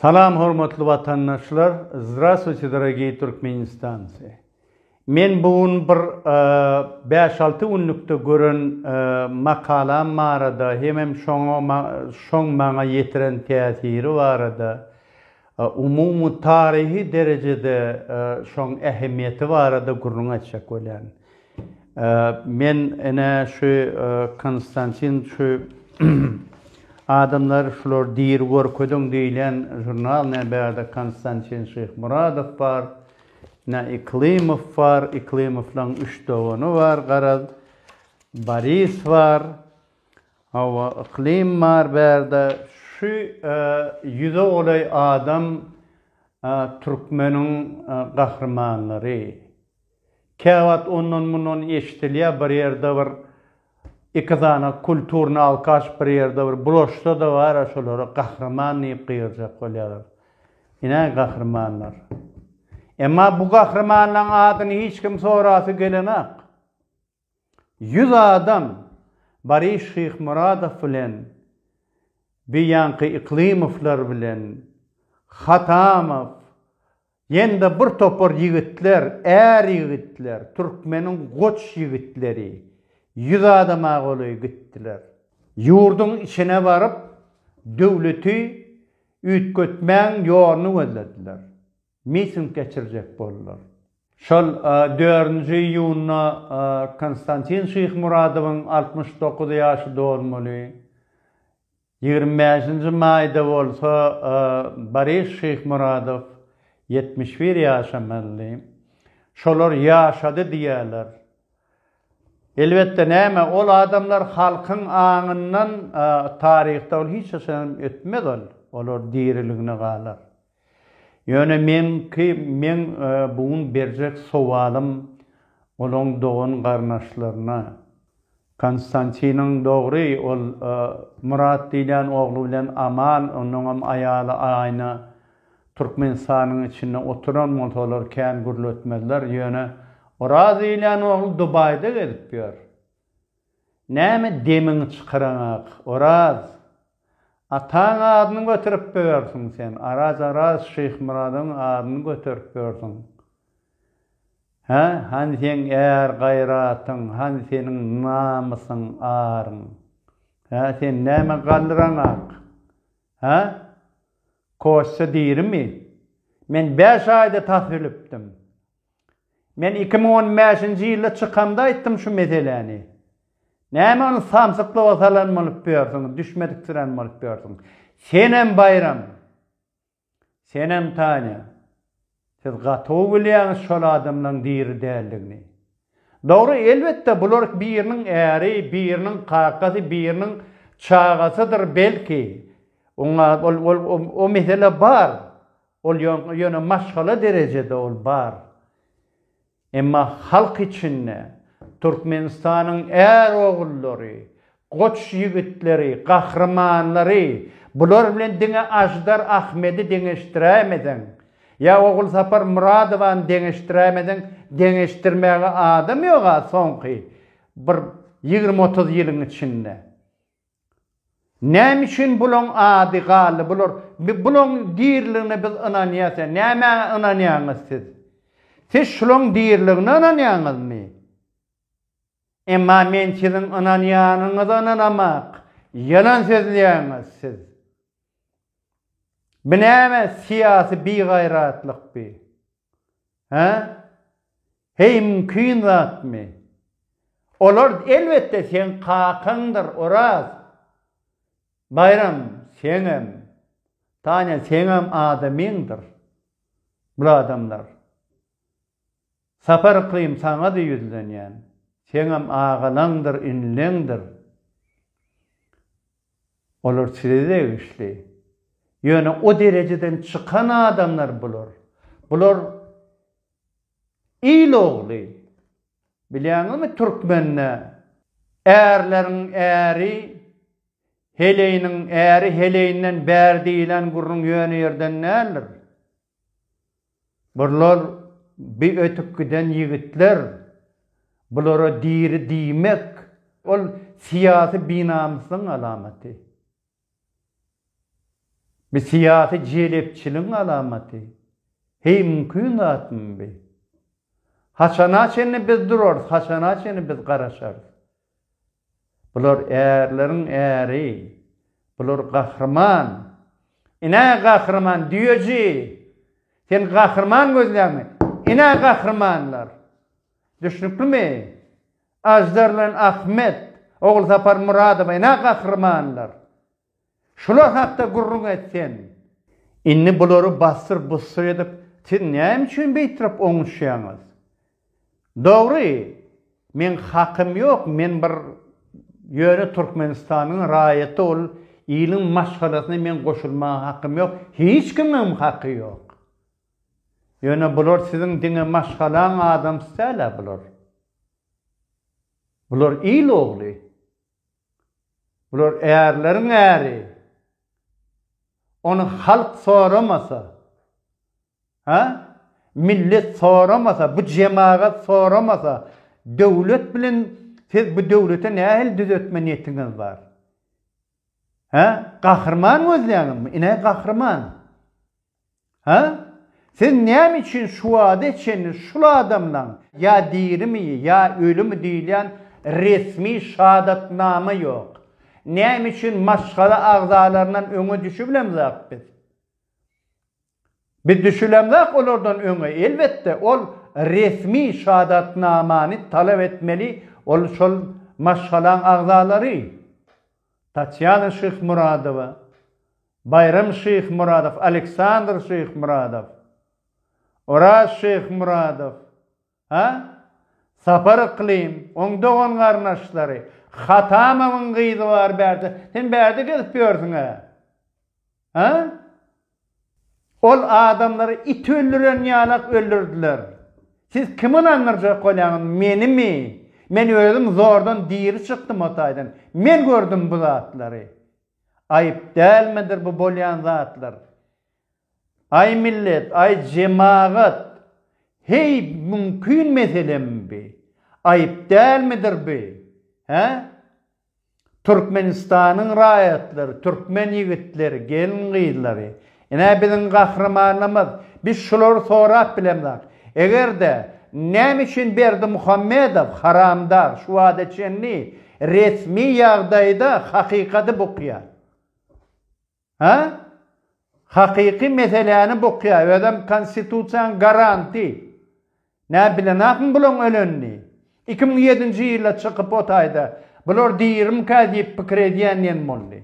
Salam hormatly watandaşlar, Zdraswiti dragiy Türkmenistansi. Men bu gün bir 5-6 e, günlükde gören e, makalam barada, hemem şoňa şoň maňa ýetiren täsiri barada Umumy taryhy derejede şoň ähmiýeti barada gürrüň açjak bolýan. Men ene şu Konstantin şu adamlar şular diri görkeziň diýilýän žurnal ne bärde Konstantin Şyhmuradow bar, ne Yklymow bar, Yklymowlaň üç dogany bar garaz, Boris bar, Hawa yklym bar bärde şu ýüze golaý adam türkmeniň gahrymanlary. Käwagt ondan mundan eşdilýär bir ýerde bir iki sany kulturny alkaş bir ýerde bir bulaşsada bara şolara gahryman diýip gygyrjak bolýarlar. Inä gahrymanlar. Emma bu gahrymanlaň adyny hiç kim sorasy gelenak. Ýüz adam Baryş Şyhmyradow bilen Biýanki Yklymowlar bilen Hatamow ýene-de bir topar ýigitler, är ýigitler, türkmeniň goç ýigitleri, ýüz adama golaý gitdiler. Ýurduň içine baryp, döwleti üýtgetmäň ýoluny gözlediler. miting geçirjek boldular. Şol dördünji iýunda Konstantin Şyhmuradowyň altmyş dokuz ýaşy dolmaly. Ýigrimi bäşinji maýda bolsa Boris Şyhmuradow ýetmiş bir ýaşamalydy. Şolar ýaşady diýýärler. Elbetde, näme, ol adamlar halkyň aňyndan taryhda ol hiç haçanam ötmez ol. Olar diriligine galar. Ýöne meňki meň bu gün berjek sowalym olaň dogan garnaşlaryna. Konstantiniň dogry ol Murat diýlen ogly bilen aman onuňam aýaly aýna Türkmenistanyň içinde oturan bolsa olar kän gürletmezler ýöne Oraz diýlen ogly Dubaýda gezip ýör. Näme demiňi çykaraňak, Oraz? Ataň adyny göterip börsiň sen, Araz, Araz, Şyhmyradyň adyny göterip börsiň. Hä, hany seň är-gaýratyň, hany seniň namysyň, aryň? Hä, sen näme galdyraňak? Hä? Kosça dirimi? Men bäş aýda tas ölüpdim. Men iki müň on bäşinji ýylda çykamda aýtdym şu meseläni. Näme ony samsyklyga salan bolup ýörsüň, düşmediksirän bolup ýörsüň. Senem Baýram, senem Tanya, siz gatowy bilýäňiz şol adamlaň diri däldigini. Dogry, elbetde, bular biriniň äri, biriniň kakasy, biriniň çagasydyr belki. Oňa, ol, ol, o mesele bar. Ol ýöne maşgala derejede ol bar. Emma halk içinde Türkmenistanyň är ogullary, goç ýigitleri, gahrymanlary, bular bilen diňe Aždar Ahmedi deňeşdiräýmeseň, ýa Ogulsapar Myradowany deňeşdiräýmeseň, deňeşdirmäge adam ýog-a soňky bir ýigrimi-otuz ýylyň içinde. Näme üçin bulaň ady galdy? Bular bulaň diriligine biz ynanýas ýa nämä ynanýaňyz siz? Siz şulaň diriligine ynanýaňyzmy? Emma men siziň ynanýanyňyza ynanamak, ýalan sözleýäňiz siz. Bu näme syýasy bigaýratlykby? Hä? Heý, mümkin zatmy? Olar, elbetde, seň kakaňdyr, Oraz. Baýram, seňem. Tanya, seňem adamyňdyr. Bul adamlar. Sapar yklym, saňa-da ýüzlenýän. Seňem agalaňdyr, inileňdir. Olar size degişli. Ýöne o derejeden çykan adamlar bular. Bular il ogly. Bilýäňizmi türkmende Ärleriň äri, heleýiniň äri heleýinden bär diýlen gürrüň ýöne ýerden däldir. Burlar bi ötüp giden ýigitler, bulara diri diýmek, ol syýasy binamyslygyň alamaty. Bi syýasy jelepçiligiň alamaty. Heý, mümkin zatmy bi? Haçana çenli biz durarys, haçana çenli biz garaşarys? Bular ärleriň äri. Bular gahryman. Ine, gahryman düýeji! Sen gahryman gözläňmi? Ine, gahrymanlar! Düşnüklimi? Aždar bilen Ahmet, Ogulsapar Myradow, ine, gahrymanlar! Şular hakda gürrüň et sen. Indi bulary bassyr-bussyr edip, siz näme üçin beýtrap oňuşýaňyz? Dogry, meň hakym ýok, men bir ýöne Türkmenistanyň raýaty ol iliň maşgalasyna meň goşulmaga hakym ýok, hiç kimiňem haky ýok. Ýöne bular siziň diňe maşgalaň adamsy däl-ä bular. Bular il ogly. Bular ärleriň äri. Ony halk soramasa, ha? Millet soramasa, bu jemagat soramasa, döwlet bilen siz bu döwlete nähili düzetme niýetiňiz bar? Ha? Gahryman gözleýäňizmi? Ine gahryman. Hä? Siz näme üçin şu wagta çenli şul adamlaň ýa dirimi, ýa ölümi diýilýän resmi şahadatnama ýok? Näme üçin maşgala agzalaryndan öňe düşübilemzok biz? Biz düşülemzok olardan öňe, elbetde, ol resmi şahadatnamany talap etmeli ol şol maşgalaň agzalary. Tatýana Şyhmyradowa. Baýram Şyhmyradow, Aleksandr Şyhmyradow, Oraz Şyhmyradow, ha? Sapar Yklym, oň dogan-garnaşlary, Hatamowyň gyzy bar bärde, sen bärde gezip ýörsüň-ä? Ha? Ol adamlary it öldüren ýalak öldürdiler. Siz kimi ynandyrjak bolýaňyz, menimi? Men özüm zordan diri çykdym o taýdan. Men gördüm bu zatlary. Aýyp dälmidir bu bolýan zatlar? Aý millet, aý jemagat, heý mümkin meselemi bi? Aýyp dälmidir bi? Hä? Türkmenistanyň raýatlary, türkmen ýigitleri, gelin-gyzlary, Ine biziň gahrymanymyz. Biz şulary sorap bilemzok. Eger-de, näme üçin Berdimuhamedow, haramdar, şu wagta çenli resmi ýagdaýda hakykady bukýar? Hä? Hakyky meseläni bukýar, özem konstitusiýanyň garanty. Näme bilenokmy bulaň ölenini? Iki müň ýedinji ýylda çykyp o taýda, bular dirimkä diýip pikir edýän diýen boldy.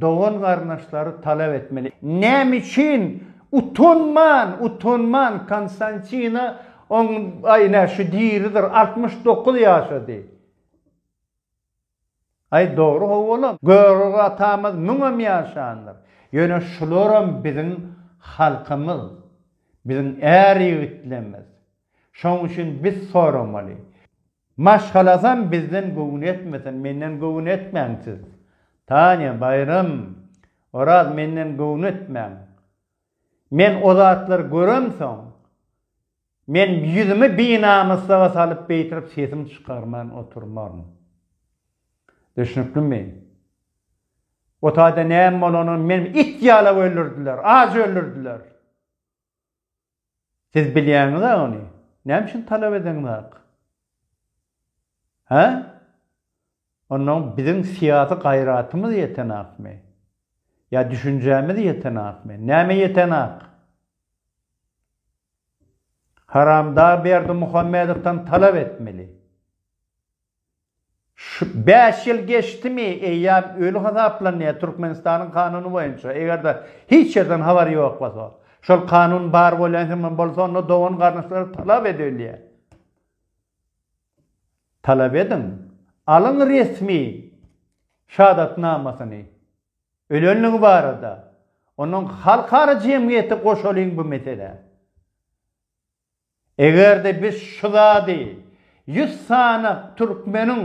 Dogan-garyndaşlary talap etmeli. Näme üçin utanman, utanman Konstantina oň aý nä şu diridir altmyş dokuz ýaşady. Aý dogry howalam Görogly atamyz müňem ýaşandyr. Ýöne şularam biziň halkymyz, biziň är ýigitlerimiz. Şoň üçin biz soramaly. Maşgalasam bizden göwün etmesin, menden göwün etmäň siz. Tanya, Baýram, Oraz menden göwün etmäň. Men o zatlary göremsoň, men ýüzümi binamyslyga salyp beýtirip sesim çykarman oturmaryn. Düşnüklimi? O taýda näme bolanyny meni it ýalap öldürdiler, aç öldürdiler. Siz bilýäňiz-ä ony. Näme üçin talap edeňizok? Hä? Onda biziň syýasy gaýratymyz ýetenokmy? Ýa düşünjämiz ýetenokmy? Näme ýetenok? Haramdag Berdimuhamedowdan talap etmeli. Şu bäş ýyl geçdimi, eýýäm öli hasaplanýar Türkmenistanyň kanuny boýunça, eger-de hiç ýerden habar ýok bolsa. Şol kanun bar bolýan hem bolsa, onda dogan-garyndaşlara talap edilýär. Talap ediň, alyň resmi şahadatnamasyny ölenligi barada. Ondan halkara jemgyýeti goşalyň bu meselä. Eger-de biz şu zady ýüz sany türkmeniň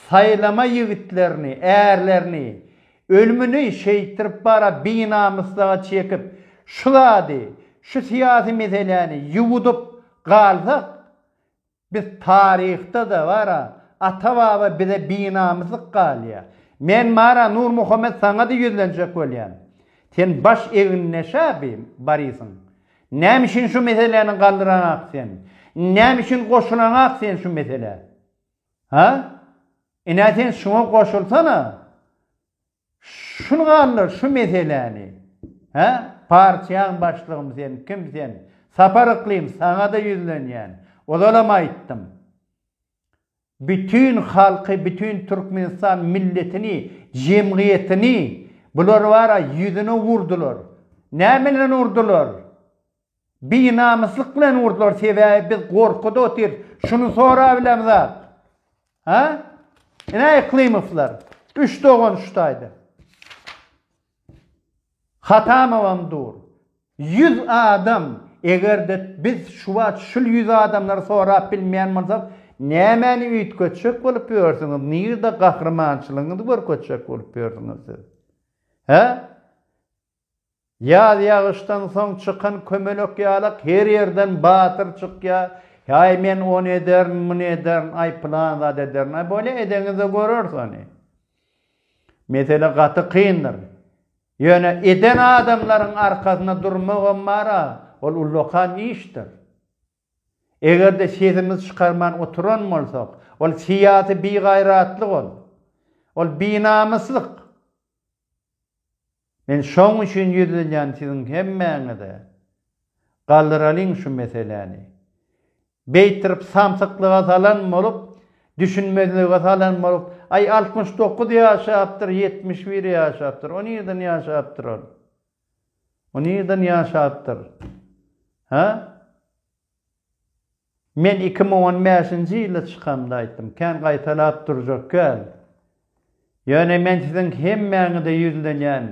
saýlama ýigitlerini, ärlerini ölümini şeýtdirip bara binamyslyga çekip şu zady, şu syýasy meseläni ýuwudyp galsak, Biz taryhda-da bar-a, ata-baba bize binamyslyk galýa. Men bar-a Nurmuhammet saňa-da ýüzlenjek bolýan. Sen baş egindeş-ä bi, Barisyň. Näme üçin şu meseläni galdyranaňak sen? Näme üçin goşulanaňak sen şu meselä? Ha? Ine sen şuňa goşulsana. Şuny galdyr şu meseläni hä partiýaň başlygymy sen kim sen Sapar Yklym saňada ýüzlenýän ozalam aýtdym bütin halky bütin Türkmenistan milletini jemgyýetini bular bara ýüzüne urdylar näme bilen urdylar Binamyslyk bilen urdular sebäbi biz gorkuda otyrys şuny sorap bilemizmi az ha ine Eklymowlar üç dogan şu taýda Hatamowam dur ýüz adam egerde biz şu wagt şul ýüz adamlary sorap bilmeýän bolsak nämäni üýtgetjek bolup ýörsüňiz nirde gahrymançylygyňyzy görkezjek bolup ýörsüňiz siz he Ýaz ýagyşdan soň çykan kömelek ýalak her ýerden batyr çykýa, Aý men ony ederin, muny ederin, aý pylan zat ederin, aý bolýa edeňizde göreris ony. Mesele gaty kyndyr. Ýöne eden adamlaryň arkasynda durmagam bar-a, ol ullakan işdir. Eger-de sesimizi çykarman oturan bolsak, ol syýasy bigaýratlyk ol. Ol binamyslyk. Men şoň üçin ýüzlenýän siziň hemmäňize. Galdyralyň şu meseläni. Beýtirip samsyklyga salan bolup, düşünmezlige salan bolup, aý altmyş dokuz ýaşapdyr, ýetmiş bir ýaşapdyr, o nirden ýaşapdyr ol? O nirden ýaşapdyr? Hä? Men iki müň on bäşinji ýylda çykanda aýtdym, kän gaýtalap durjak kän. Ýöne men siziň hemmäňize ýüzlenýän.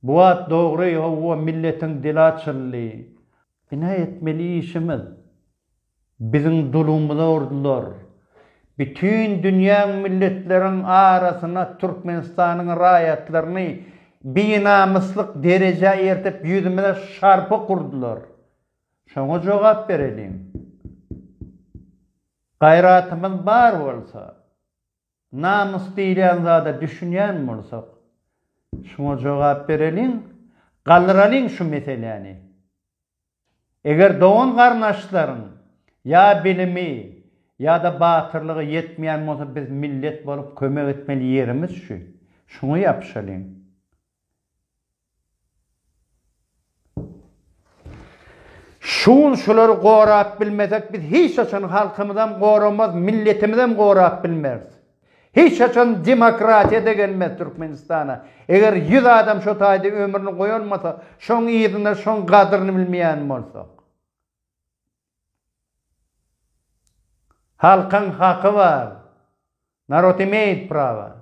Bu wagt dogry, hawa, milletiň dili açyldy. Bina etmeli işimiz. Biziň dulumyza urdular. Bütin dünýäň milletleriň arasyna Türkmenistanyň raýatlaryny binamyslyk derejä eltip ýüzümize şarpyk urdular. Şoňa jogap bereliň. Gaýratymyz bar bolsa, namys diýilýän zada düşünýän bolsak, şuňa jogap bereliň, galdyralyň şu meseläni. Eger dogan-garyndaşlaryň ýa bilimi, ýa-da batyrlygy ýetmeýän bolsa biz millet bolup kömek etmeli ýerimiz şu. Şuňa ýapyşalyň. Şu gün şulary gorap bilmesek biz hiç haçan halkymyzam goramaz, milletimizem gorap bilmeris. Hiç haçan demokratiýa da gelmez Türkmenistana. Eger ýüz adam şo taýda ömrüni goýalmasa, şoň yzyna şoň gadryny bilmeýän bolsak. Halkyň haky bar. Narod imeyit prava.